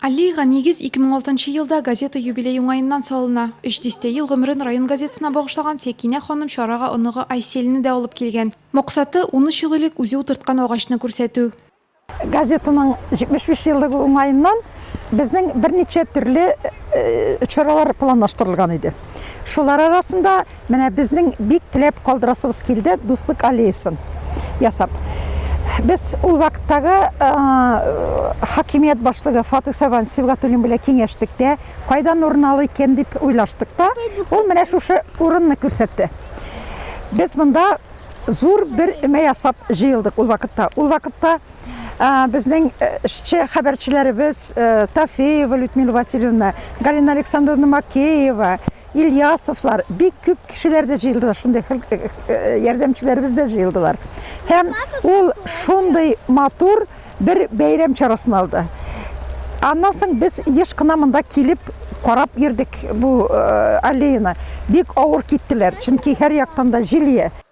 Аллеяга нигез 2006 нчы елда газета юбилей уңаеннан салына. Өч дистә ел гомерен район газетасына багышлаган Сәкинә ханым чарага оныгы Айсельне дә алып килгән. Максаты, унөч ел элек үзе утырткан агачны күрсәтү. Газетаның 75 еллыгы уңаеннан безнең берничә төрле чаралар планлаштырылган иде. Шулар арасында, Менә безнең бик теләп калдырасыбыз килде дуслык аллеясын ясап. Без ул вакыттагы хакимият башлыгы Фатих Сабан Сибгатуллин белән киңәштек тә, кайдан урын алу икән дип уйлаштык та, ул менә шушы урынны күрсәтте. Без монда зур бер өмә ясап җыелдык ул вакытта. Ул вакытта безнең эшче хәбәрчеләребез Тафеева Людмила Васильевна, Галина Александровна Макеева, Ильясовлар, бик күп кешеләр дә җыелдылар, шундый ярдәмчеләребез дә җыелдылар. Һәм ул шундый матур бер бәйрәм чарасын алды. Аннан соң без еш кына монда килеп карап йөрдек бу аллеяны. Бик авыр киттеләр, чөнки һәр яктан да җил ия.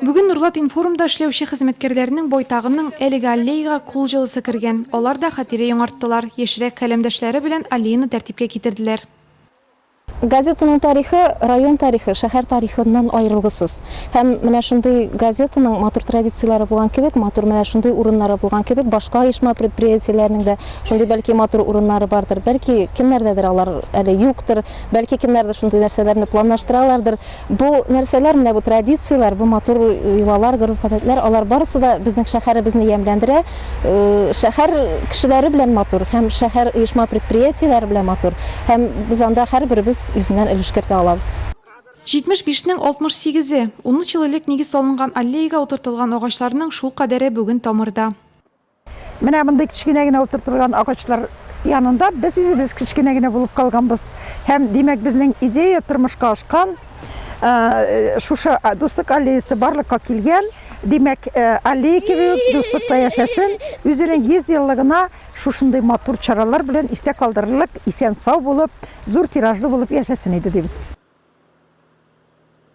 Бүген Норлат-информда эшләүче хезмәткәрләрнең байтагының әлеге аллеяга кул җылысы кергән. Алар да хатирә яңарттылар, яшьрәк каләмдәшләре белән аллеяны тәртипкә китерделәр. Газетаның тарихы, район тарихы, шәһәр тарихыннан аерылгысыз. Һәм менә шундый газетаның матур традицияләре булган кебек, матур менә шундый урыннары булган кебек, башка оешма-предприятиеләрнең дә шундый бәлки матур урыннары бардыр. Бәлки кемнәрдәдер алар әле юктыр, бәлки кемнәрдер шундый нәрсәләрне планлаштыралардыр. Бу нәрсәләр, менә бу традицияләр, бу матур йолалар, гореф-гадәтләр, алар барысы да безнең шәһәребезне ямьләндерә. Шәһәр кешеләре белән матур һәм шәһәр оешма-предприятиеләре белән матур һәм без анда һәрберебез үзеннән өлеш кертә алабыз. 75 нең 68 е! Унөч ел элек нигез салынган аллеяга утыртылган агачларның шул кадәре бүген тамырда. Менә мондый кечкенә генә утыртылган агачлар янында без үзебез кечкенә генә булып калганбыз. Һәм димәк безнең идея тормышка ашкан. Э, шушы дуслык аллеясы барлыкка килгән. Димәк, э, аллея кебек дуслыкта яшәсен. Үзенең 100 еллыгына шушындый матур чаралар белән истә калдырырлык, исән-сау булып, зур тиражлы булып яшәсен иде дибез.